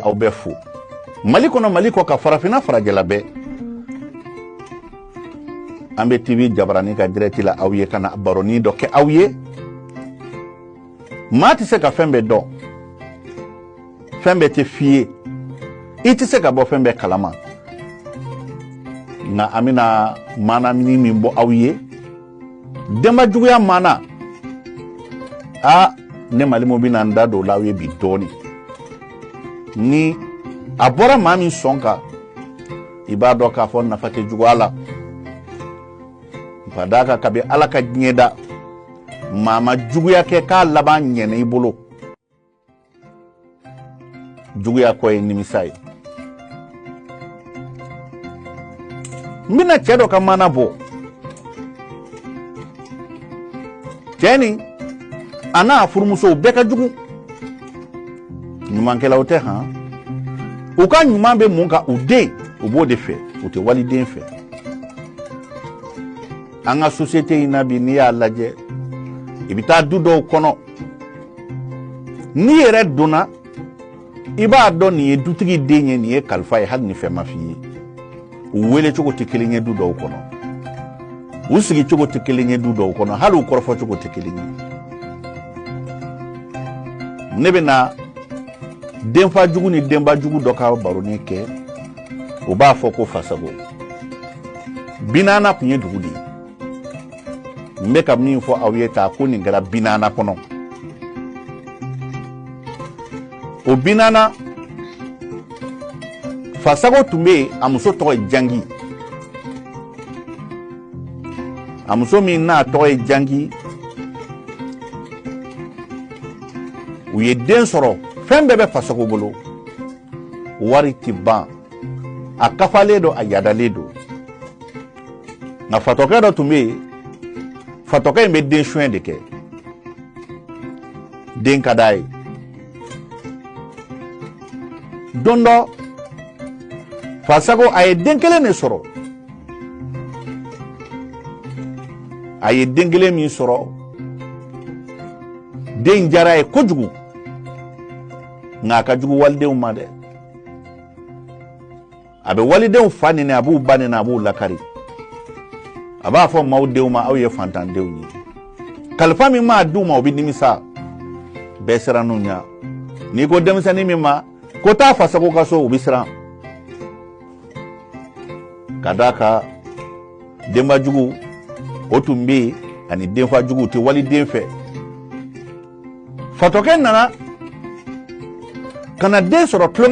aw bɛ fo mali kɔnɔ mali kɔkan farafinna farajɛla bɛɛ an bɛ tv jabarani ka dirɛti la aw ye ka na baroni dɔ kɛ aw ye maa tɛ se ka fɛn bɛɛ dɔn fɛn bɛɛ tɛ f'i ye i tɛ se ka bɔ fɛn bɛɛ kala ma nka an bɛna maana min bɔ aw ye denba juguya maana ne malimu bɛna n da don la aw ye bi dɔɔni ni a bɔra maa min sɔn kan i b'a dɔn k'a fɔ nafa tɛ juguya la ka d'a kan kabi ala ka diɲɛ da maa ma juguya kɛ k'a laban ɲɛna i bolo juguya kɔ ye nimisa ye n bɛna cɛ dɔ ka maana bɔ cɛ nin a n'a furumusow bɛɛ ka jugu ɲumankɛlaw tɛ han u ka ɲuman bɛ mun kan u den u b'o de fɛ u tɛ waliden fɛ an ka sosiyete in na bi n'i y'a lajɛ i bɛ taa du dɔw kɔnɔ n'i yɛrɛ donna i b'a dɔn nin ye dutigi den ye nin ye kalifa ye hali ni fɛn ma f'i ye u wele cogo tɛ kelen ye du dɔw kɔnɔ u sigi cogo tɛ kelen ye du dɔw kɔnɔ hali u kɔrɔfɔ cogo tɛ kelen ye ne bɛna denfa jugu ni denba jugu dɔ ka baroni kɛ o b'a fɔ ko fasago binana tun ye dugu de ye n bɛ ka min fɔ aw ye tan ko nin kɛra binana kɔnɔ o binana fasago tun bɛ yen a muso tɔgɔ ye jangi a muso min n'a tɔgɔ ye jangi u ye den sɔrɔ fɛn bɛɛ bɛ fasago bolo wari tɛ ban a kafalen don a yadalen don nka fatɔkɛ dɔ tun bɛ yen fatɔkɛ in bɛ den suɲɛ de kɛ den ka d'a ye don dɔ fasago a ye den kelen de sɔrɔ a ye den kelen min sɔrɔ den jar'a ye kojugu nka a ka jugu walidenw ma dɛ a bɛ walidenw fa neni a b'u ba neni a b'u lakari a b'a fɔ maaw denw ma aw ye fantandenw ye kalifa min maa d'u ma o bɛ nimisa bɛɛ siranna u ɲɛ n'i ko denmisɛnnin min ma ko taa fasago ka so o bɛ siran ka d'a kan denba jugu o tun bɛ yen ani denfa jugu u tɛ waliden fɛ fatɔkɛ nana ka na den sɔrɔ tulon